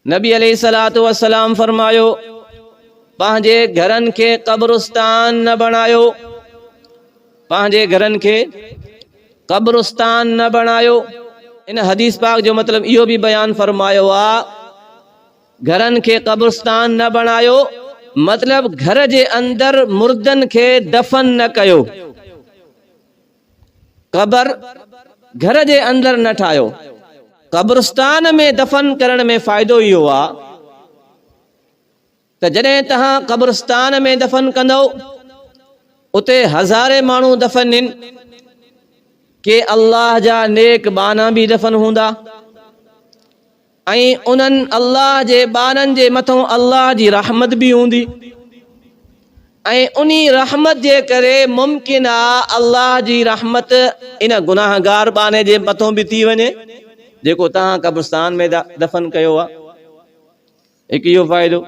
نبي عليه الصلوة والسلام فرمايو، پنهنجي گهرن کي قبرستان نه بڻايو، پنهنجي گهرن کي قبرستان نه بڻايو. ان حديث پاڪ جو مطلب اهو به بيان فرمايو آ، گهرن کي قبرستان نه بڻايو، مطلب گهر جي اندر مردن کي دفن نه ڪيو. قبر گهر جي اندر نه ٺاهيو. قبرستان ۾ دفن ڪرڻ ۾ فائدو اهو آ ته جڏهن تهان قبرستان ۾ دفن ڪندؤ اتي هزارين ماڻهو دفن هن ڪي الله جا نيڪ ٻانها به دفن هوندا. ۽ انهن، الله جي ٻارن، جي مٿان الله جي رحمت به هوندي ۽ انهي رحمت جي ڪري ممڪن آ الله جي رحمت ان گناهگار ٻانهي جي مٿان به ٿي وڃي جيڪو توهان قبرستان ۾ دفن ڪيو آ. هڪ اهو فائدو.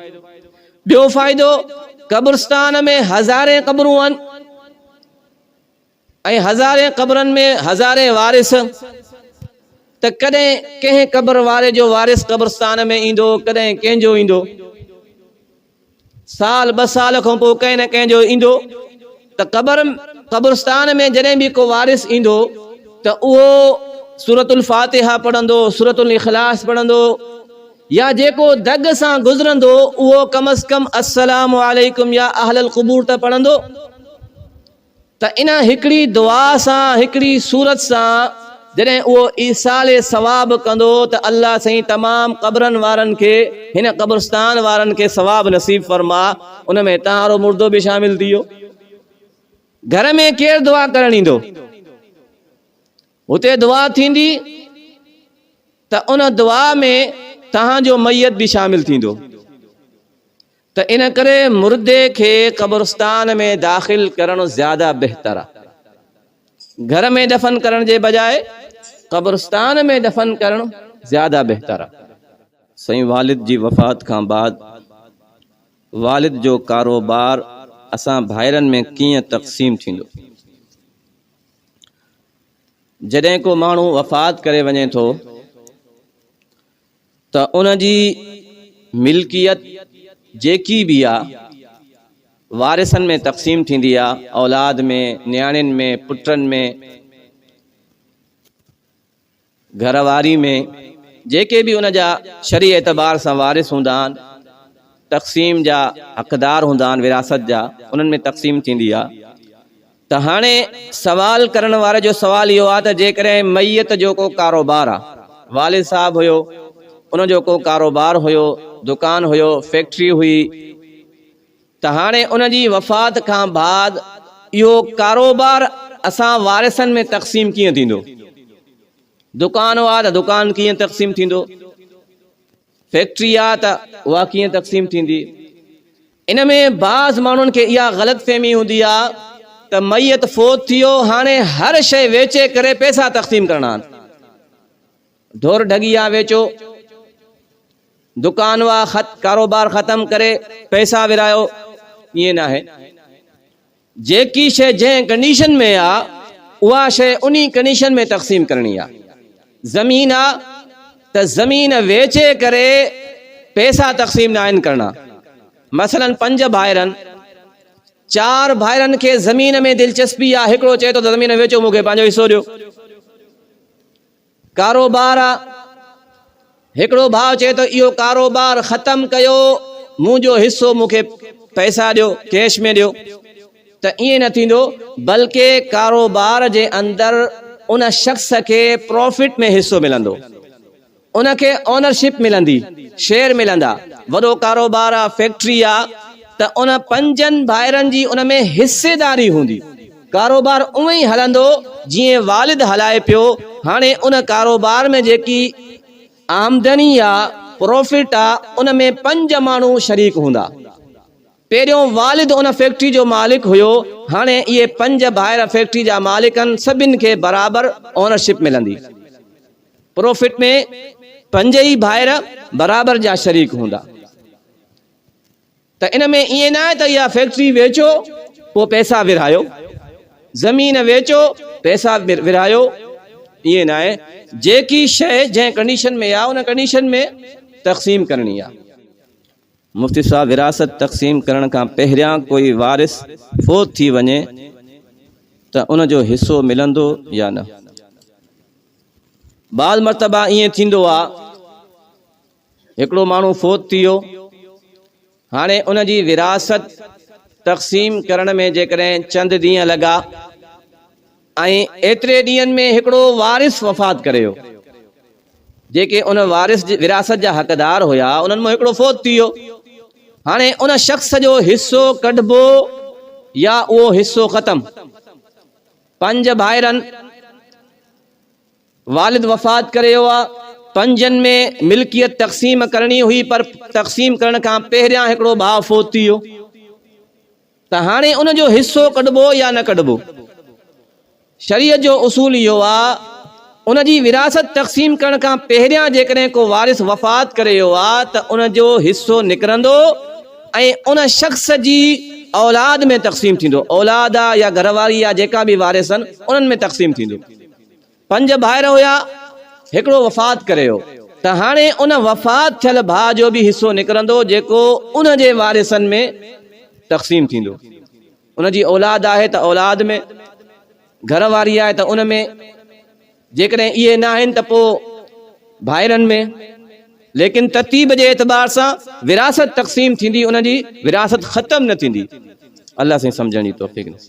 ٻيو فائدو قبرستان ۾ هزارين قبرون آهن. ۽ هزارين قبرن ۾ هزارين وارث ته ڪڏهن ڪنهن قبر واري جو وارث قبرستان ۾ ايندو ڪڏهن ڪنهن جو ايندو سال ٻه سال کان پوء ڪنهن نه ڪنهن جو ايندو ته قبر قبرستان ۾ جڏهن به ڪو وارث ايندو ته اهو سورت الفاتحه پڙهندو سورت الاخلاص پڙهندو يا جيڪو دڳ سان گذرندو اهو ڪم از ڪم السلام عليڪم يا اهل القبور ته پڙهندو ته ان هڪڙي دعا سان، هڪڙي سورت سان جڏهن اهو ايصال ثواب ڪندو ته الله سائين تمام قبرن وارن کي هن قبرستان وارن کي ثواب نصيب فرما ان ۾ هتان وارو مردو به شامل ٿي ويو گهر ۾ ڪير دعا ڪرڻ ايندو هتي دعا ٿيندي ته ان دعا ۾ تهان جو ميت به شامل ٿيندو ته ان ڪري مردي کي قبرستان ۾ داخل ڪرڻ زياده بهتر آهي. گهر ۾ دفن ڪرڻ جي بجاء قبرستان ۾ دفن ڪرڻ زياده بهتر آهي. سائين والد جي وفات کان بعد والد جو ڪاروبار اسان ڀائرن ۾ ڪيئن تقسيم ٿيندو؟ جڏهن ڪو ماڻهو وفات ڪري وڃي ٿو ته ان جي ملڪيت جيڪي به آ وارثن ۾ تقسيم ٿيندي آ اولاد ۾ نياڻين ۾ پٽن ۾ گهر واري ۾ جيڪي به ان جا شرعي اعتبار سان وارث هوندا آهن تقسيم جا حقدار هوندا آهن وراثت جا انهن ۾ تقسيم ٿيندي آ ته هاڻي سوال ڪرڻ واري جو سوال اهو آ ته جيڪڏهن ميت جو ڪو ڪاروبار آ، والد صاحب هيو، ان جو ڪو ڪاروبار هيو، دڪان هيو، فيڪٽري هئي ته هاڻي ان جي وفات کان بعد اهو ڪاروبار اسان وارثن ۾ تقسيم ڪيئن ٿيندو؟ دڪان آ ته دڪان ڪيئن تقسيم ٿيندو؟ فيڪٽري آ ته اها ڪيئن تقسيم ٿيندي؟ ان ۾ بعض ماڻهن کي اها غلط فهمي هوندي آ ته ميت فوت ٿي ويو هاڻي هر شيء ويچي ڪري پيسا تقسيم ڪرڻا آن. ڍور ڍڳي آ ويچو، دڪان وا خط ڪاروبار ختم ڪري پيسا ورهايو، ائين ناهي. جيڪي شيء جنهن ڪنڊيشن ۾ آ اها شيء انهي ڪنڊيشن ۾ تقسيم ڪرڻي آ. زمين آ ته زمين ويچي ڪري پيسا تقسيم ناهن ڪرڻا. مثلا پنج ڀائرن چار ڀائرن کي زمين ۾ دلچسپي آ هڪڙو چئي ٿو ته زمين ويچو مون کي پنهنجو حصو ڏيو. ڪاروبار آ، هڪڙو ڀاء چئي ٿو اهو ڪاروبار ختم ڪيو مون جو حصو مون کي پئسا ڏيو ڪيش ۾ ڏيو ته ائين نه ٿيندو بلڪه ڪاروبار جي اندر ان شخص کي پرافٽ ۾ حصو ملندو ان کي اونرشپ ملندي شيئر ملندا وڏو ڪاروبار آ فيڪٽري آ ته ان پنجن ڀائرن جي ان ۾ حصيداري هوندي. ڪاروبار اونئن ئي هلندو جيئن والد هلائي پيو، هاڻي ان ڪاروبار ۾ جيڪي آمدني يا پروفٽ آ ان ۾ پنج ماڻهو شريڪ هوندا. پهريون والد ان فيڪٽري جو مالڪ هيو، هاڻي اهي پنج ڀائر فيڪٽري جا مالڪ آهن سڀن کي برابر اونرشپ ملندي. پروفٽ ۾ پنج ئي ڀائر برابر جا شريڪ هوندا. ته ان ۾ ائين نه آهي ته اها فيڪٽري ويچو پوء پئسا ورهايو، زمين ويچو پئسا ورهايو، ائين نه آهي، جيڪي شيء جنهن ڪنڊيشن ۾ آهي ان ڪنڊيشن ۾ تقسيم ڪرڻي آهي. مفتي صاحب ورهاست تقسيم ڪرڻ کان پهريان ڪوئي وارث فوت ٿي وڃي ته ان جو حصو ملندو يا نه؟ بعض مرتبا ائين ٿيندو آهي. هڪڙو ماڻهو فوت ٿي ويو، هاڻي ان جي ورهاست تقسيم ڪرڻ ۾ جيڪڏهن چند ڏينهن لڳا ۽ ايتري ڏينهن ۾ هڪڙو وارث وفات ڪري ويو، جيڪي ان وارث جي ورهاست جا حقدار هيا، انهن مان هڪڙو فوت ٿي ويو، هاڻي ان شخص جو حصو ڪڍبو يا اهو حصو ختم؟ پنج ڀائرن. والد وفات ڪري ويو آ پنھنجن ۾ ملڪيت تقسيم ڪرڻي ھئي پر تقسيم ڪرڻ کان پهريان ھڪڙو ڀاء فوت ٿي ويو ته ھاڻي ان جو حصو ڪڍبو يا نه ڪڍبو شريعت جو اصول اھو آ ان جي وراثت تقسيم ڪرڻ کان پهريان جيڪڏھن ڪو وارث وفات ڪري ويو آ ته ان جو حصو نڪرندو ۽ ان شخص جي اولاد ۾ تقسيم ٿيندو اولاد آ يا گھر واري آ جيڪا به وارث آھن انھن ۾ تقسيم ٿيندو. پنج ڀائر هيا هڪڙو وفات ڪري ويو ته هاڻي ان وفات ٿيل ڀاء جو به حصو نڪرندو جيڪو ان جي وارثن ۾ تقسيم ٿيندو ان جي اولاد آهي ته اولاد ۾ گهر واري آهي ته ان ۾ جيڪڏهن اهي نه آهن ته پوء ڀائرن ۾ ليڪن ترتيب جي اعتبار سان ورهاست تقسيم ٿيندي ان جي ورهاست ختم نه ٿيندي الله سائين سمجهڻ جي توفيق نصيب